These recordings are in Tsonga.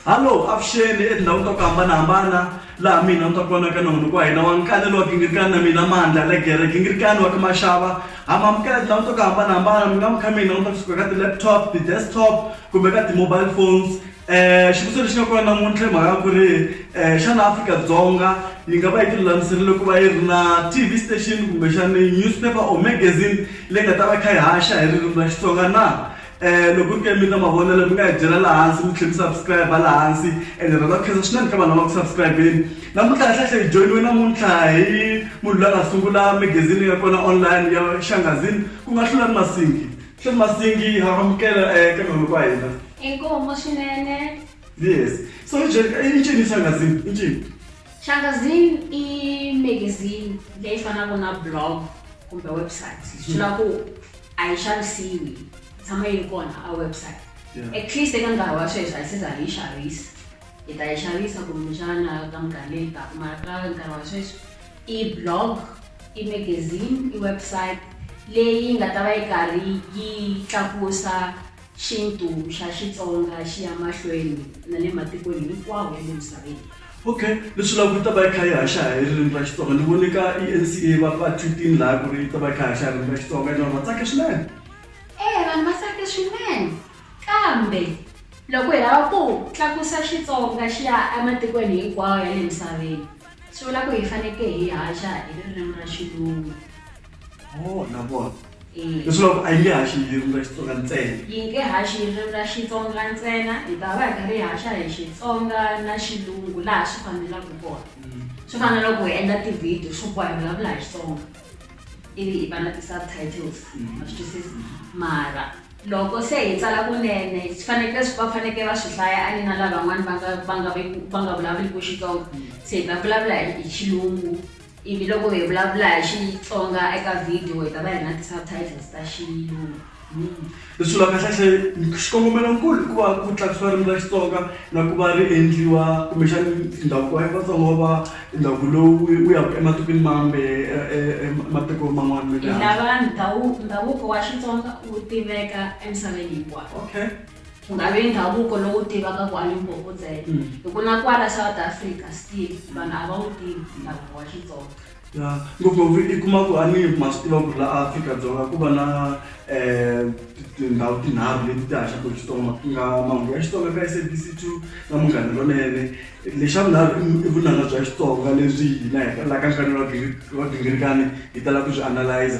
hallo avuxeni etindhawini ta ku hambanahambana laha mina ni ta vonaka na munhu ku wa hina wa nkani lowa gingirikani na mina mandla legere gingirikani wa ka maxava hamamukela tindhawini ta ku hambanahambana mi nga mi kha mina ni ta kusuka ka ti-laptop ti-desktop kumbe ka ti-mobile phones Eh, xivutiso lexi nga kona namuntlha hi mhaka ya ku ri um xana afrika-dzonga yi nga va yi tilulamiserile ku va yi ri na tv station kumbexani newspaper or magazine leyi nga ta va kha yi haxa hi ririmi ra xitsonga na um loko ri ke mi na mavonelo mi nga hi byela laha hansi mi tlhela mi subscribe laha hansi ene rhandza ku khensa swinene ka vanhu lava ku subscribeni namuntlha kahlekahle hi joyiniwe namuntlha hi munhu loyi a nga sungula magazine ya kona online ya xangazini ku nga hlula ni masingi hlula ni masingi ha amukela um ka mhani wa hina Inkomo swinene. Yes. So injini shangazini, injini. Shangazini i magazine leyi fanaka na blog kumbe website. Swi hmm. vula ku a yi xavisiwi tshama yi ri kona a website. At least eka nkarhi wa sweswi a yi se za yi xavisa. Hi ta yi xavisa kumbexana ka minkarhi leyi taka mara ka nkarhi wa sweswi i blog i magazine i website leyi nga ta va yi karhi yi tlakusa Xintu xa Xitsonga xi ya mahlweni na le matikweni hinkwawo ya le misaveni. Ok, leswi vulaka ku yi ta va yi kha yi haxa hi ririmi ra Xitsonga. Ni vone ka eNCA va va tweet-ini lahaya ku ri yi ta va yi kha yi haxa hi ririmi ra Xitsonga and vanhu va tsake swinene. Eya vanhu va tsake swinene kambe loko hi lava ku tlakusa Xitsonga xi ya ematikweni hinkwawo ya le misaveni swi vula ku hi fanekele hi haxa hi ririmi ra Xilungu. Oh, na vona. Eh. Leswaku a yi nge haxi ririmi ra Xitsonga ntsena. Yi nge haxi ririmi ra Xitsonga ntsena, hi ta va hi karhi hi haxa hi Xitsonga na Xilungu laha swi fanelaka kona. Mm. Swi fana na loko hi endla ti-video swo boha hi vulavula hi Xitsonga ivi hi va na ti-subtitles mm. ma swi twisisa mara loko se hi tsala kunene swi fanekele va fanekele va swi hlaya a ni na lavan'wana va nga va nga va nga vulavuliki xitsonga se hi ta vulavula hi xilungu Ivi loko hi vulavula hi Xitsonga eka video hi ta va hi ri na ti-subtitles ta xilungu. Hi sula kahlekahle xikongomelonkulu i ku va ku tlakusiwa ririmi ra Xitsonga na ku va ri endliwa kumbexani ndhavuko wa Vatsonga wu va ndhavuko lowu wu ya ku ematikweni mambe matiko man'wana ma le handle. Hi lava ndhavuko wa Xitsonga wu tiveka emisaveni hinkwayo. Okay. ku nga vi ndhavuko lowu tivaka ku a limpopo ntsena mm. hi ku na kwala south africa still vanhu a va wu tivi ndhavuko wa xitsonga ya ngopfungopfu i kuma ku a ni ma swi tiva ku la afrika-dzonga ku va na um tindhawu tinharhu leti ti haxaka xitsonga ku nga mahungu ya xitsonga ka sabc two na munghana lonene lexa vunharhu i vunanga bya xitsonga leswi hina hi la ka nhlani wa gingirikani hi tala ku swi analyza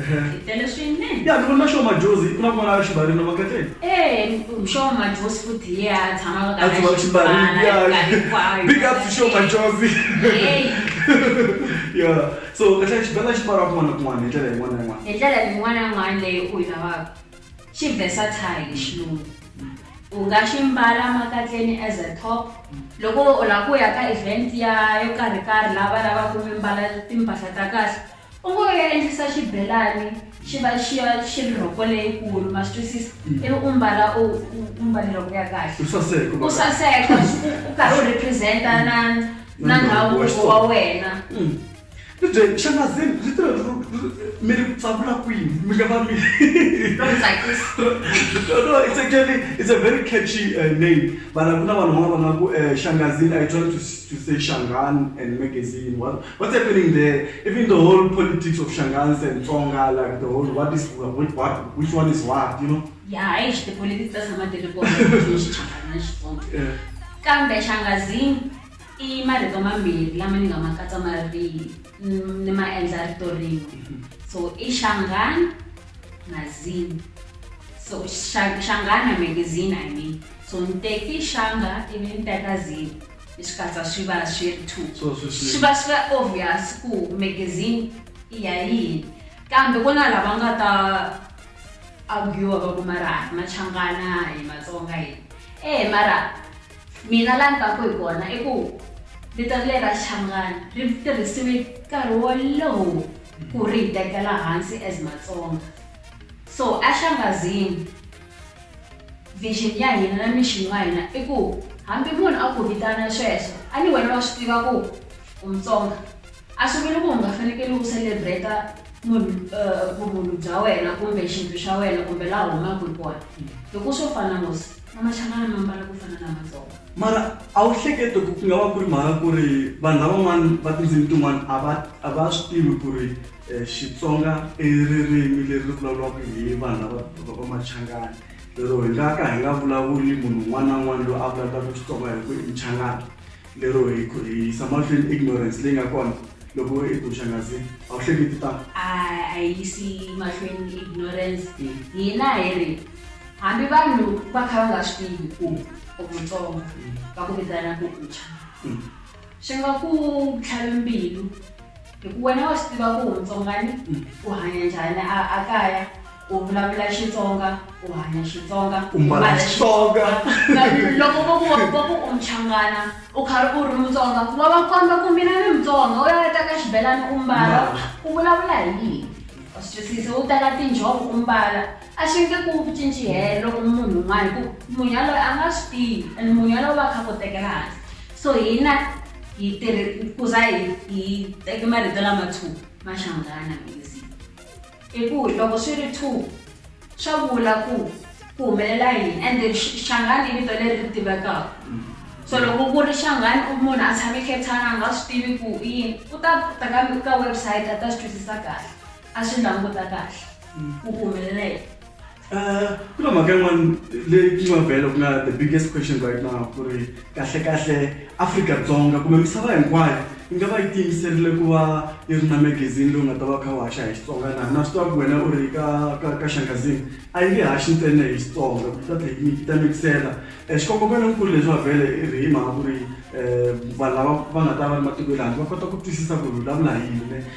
Ehe. Hi tele swinene. Ya ni vona xo majozi ku na kun'wana xibarina va kahle. Eh, xo majozi futhi hi ya tshama ka A tshama xibarina ya. hinkwayo. Big up to xo majozi. Hey, Yeah. So kahle xibela xi pfala kun'wana na kun'wana hi ndlela yin'wana na yin'wana. hi ndlela yin'wana na yin'wana leyi u yi lavaka xi versatile hi xilungu u nga xi mbala makatleni as a top loko u lava ku ya ka event ya yo karhi karhi lava lavaka mi mbala timpahla ta kahle U ngo ya endlisa xibelani xi va xi ya xi ri rhoko leyikulu ma swi twisisa mm. ivi u mbala u mbale rhoko ya kahle u saseka u karhi u representa mm. na na ndhavuko wa wena mm. Mzee, shamazini, little mele kutsabula kwini mika va mi no it's actually it's a very catchy uh, name vana ku na vanhu van'wana va nga ku uh, shangazini i try to, to say shangan and magazine What's happening there? Even the whole politics of Shangans and Tsonga, like the whole what is what, what which one is what, you know? Yeah, I the politics doesn't matter the politics. Yeah. Kambe Shangazini i marito mambirhi lama ni nga ma katsa ma ri mm, ni ma endla rito rin'we mm-hmm. so i xangani mazini so xangana magazine i mean so ni teki xanga ivi ni teka zini hi swi katsa swi va swi ri two So, swi- swi- swi va swi va obvious ku magazine i ya yini kambe ku na lava nga ta argua va ku mara hi machangana hi matsonga hi e mara mina la ni taku hi kona i ku vito leri ra changana ri tirhisiwe nkarhi wolowo ku ri hi tekela hansi as matsonga so axangazini Vision ya hina na mission wa hina i ku hambi munhu a ku vitana sweswo a ni wena wa swi tiva ku u mutsonga a swi vuli ku u nga fanekele u celebrate munhu eh, vumunhu bya wena kumbe xintu xa wena kumbe laha u humaka hi kona hi ku swo fana nghosi na machangana ma mbala ku fana na matsonga mara a wu hlekete ku ku nga va ku ri mhaka ku ri vanhu lavan'wana va tindzimi tin'wana a va a va swi tivi ku ri Xitsonga i ririmi leri vulavuriwaka hi vanhu lava va va Machangani lero hi nga ka hi nga vulavuli munhu un'wana na un'wana loyi a vulavulaka Xitsonga hi ku i Muchangani lero hi ku hi yisa mahlweni ignorance leyi nga kona loko i ku Xangazini a wu hleketi tano a a hi yisi mahlweni ignorance hina hi ri hambi vanhu va kha va nga swi tivi ku u mutsonga va ku vitana ku ucha Mm. Swi nga ku tlhavi mbilu hi ku wena wa swi tiva ku mutsongani mm. u hanya njhani a kaya u vulavula xitsonga u hanya xitsonga u mbala xitsonga loko vo ku vo ku u muchangana u karhi u ri mutsonga wa va komba ku mina ni mutsonga u ya ta ka xibelani u mbala u vulavula hi yini u swi twisise u teka tinjhovo u mbala a swi nge ku cinci helo loko munhu un'wana hi ku munhu yaloye a nga swi tivi and munhu yaloye va kha ku tekela hansi so hina hi tirhi ku za hi hi teke marito lama two ma hlangana music i ku loko swi ri two swa vula ku ku humelela yini and then xangani i vito leri ri tivekaka mm. so loko ku ri xangani u munhu a tshame cape town a nga swi tivi ku i yini u ta ta ka ka website a ta swi twisisa kahle a swi languta kahle mm. ku humelela yini Eh, ku na mhaka yin'wana leyi yi nga vhela ku nga the biggest question right now ku ri kahlekahle afrika-dzonga kumbe misava hinkwayo yi nga va yi tiyimiserile ku va yi ri na magazini lowu nga ta va kha wu haxa hi xitsonga na na swi tiva ku wena u ri ka ka ka xangazini a yi nge haxi ntsena hi xitsonga ku ta tlhe yi ta mikisela um xikongomelo nkulu leswi va vhele i ri hi mhaka ku ri um vanhu lava va nga ta va ri matiko ya le handle va kota ku twisisa ku ri vulavula hi yini ne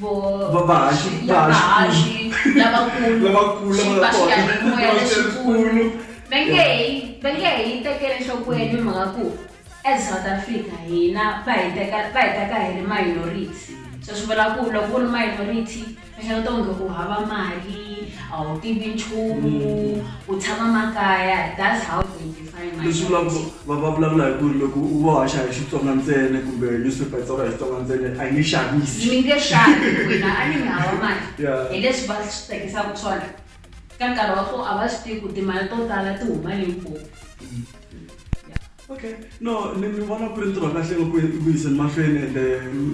vo vavaxi vavaxi lavakulu lavakulu xipaxiyanimoya lexikulu va nge hi va nge hi tekele nhlokweni hi mhaka ku as south africa hina va hi teka va hi teka hi ri minority so swi vula ku loko u ri minority va xana to nge u hava mali a wu tivi nchumu u tshama makaya that's how they leswi vulaka va va vulavula hi ku ri loko u va haxa hi xitsonga ntsena kumbe newspaper yi tsala hi xitsonga ntsena a yi nge xavisi mi nge xavi wena a ni mi hava mali hi leswi va swi tekisaka swona ka nkarhi wa kona a va swi tivi ku timali to tala ti huma limpopo mm. okay no ni ni vona ku ri ntirho wa kahle loko ku yiseni mahlweni ende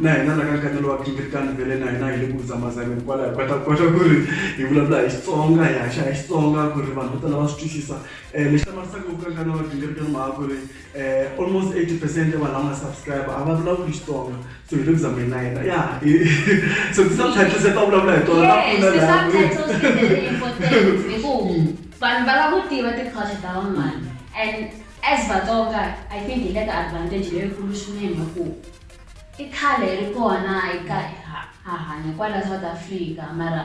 na hina la ka nkatelo wa kingirikani vele na hina hi le ku zamazami hikwalaho kota kota ku ri hi vulavula hi xitsonga hi haxa hi xitsonga ku ri vanhu vo tala va swi twisisa Eh, lexi hlamarisaka ku kanka na vagingiriki ni mhaka ku ri eh, almost 80 percent ya vanhu lava nga subscribe a va vulavuli xitsonga so hi le ku zameni na yena ya so ti-subtitles ta vulavula hi tona ta pfuna Yes, laha ti-subtitles ti very important hi ku vanhu va lava ku tiva ti-culture ta van'wana and as vatsonga i think hi le ka advantage leyikulu swinene hi ku i khale ri kona hi ka ha- ha hanya kwala south africa mara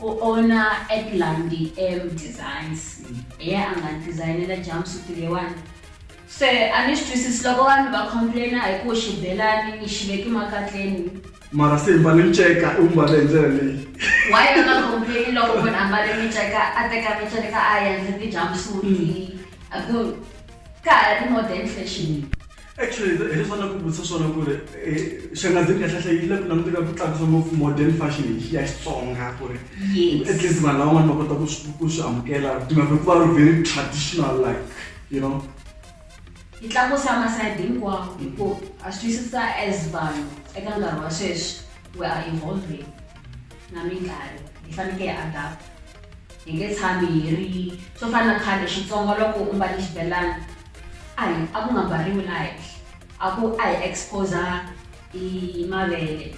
U owna Atlandi M Designs, hi yena a nga ni dizayinela jumpsuit leyiwani. Se a ni swi twisisi loko vanhu va complain-a hi ku xibelani ni xi veke makatleni. Mara se hi mbale nceka, u wu mbale hi ndlela leyi. Why va nga complain-i loko munhu a mbale minceka, a teka minceka a yi endla ti-jumpsuit-i? Hi ku ka ha ri modern fashion. Actually, hi leswi va lava ku vutisa swona ku ri eh, xangazini ya hlahla yi le ku languteka ku tlakusa ngopfu modern fashion hi ya Xitsonga ku ri Yes. at least vanhu lavan'wana va kota ku swi- ku swi amukela timhaka hikuva ri very traditional like you know yi tlakusa masayidi hinkwawo hikuva a swi twisisa as vanhu eka nkarhi wa sweswi we are evolving na minkarhi hi fanekele hi adapt Hi nge tshami hi ri swo fana na khale Xitsonga loko u mbale xibelani a hi a ku nga mbariwi la henhla a ku a hi exposa i mavele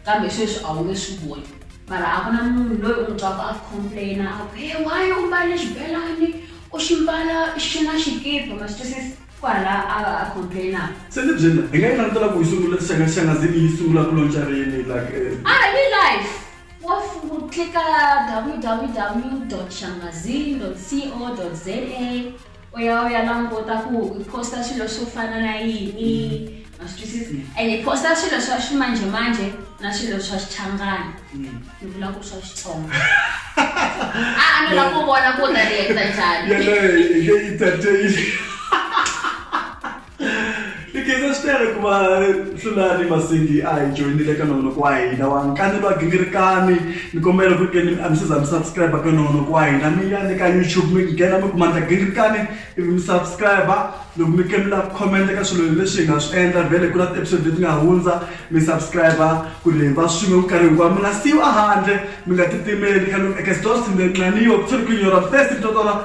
kambe sweswi a wu nge swi voni mara a ku na munhu loyi u n'wi twaka a complaina a ku he why u mbale xibelani u xi mbala xi na xikipa ma swi twisisa kwala a a complainaka se ni byela hi nga yi langutela ku yi sungula xangaxanga zini yi sungula ku lonca rini like eh, a hi life Wafungu klika www.shamazine.co.za u ya u ya languta ku hi posta swilo swo fana na yini ma swi twisisa and hi posta swilo swa ximanjhemanjhe na swilo swa xichangana ni vula ku swa xitsonga a a ni la ku vona ku u ta reacta njhani yaleyo hi nge yi tateyile tikhensa swi tele ku va hlulani masindi a hi joyinile ka nongonoko wa hina wa nkanelo wa gingirikani ni kombela ku keni a mi se za mi subscribe ka nongonoko wa hina mi ya le ka youtube mi nghena mi kuma ndla gingirikani ivi mi subscribe loko mi kemila ku khomenta ka swilo leswi hi nga swi endla vhele ku na ti-episode leti nga hundza mi subscribe ku ri va swin'we minkarhi hinkwayo mi nga siyiwa handle mi nga titimeli kaloku eka sidosindenqaniwa ku tshori ku inyora fesi mitotola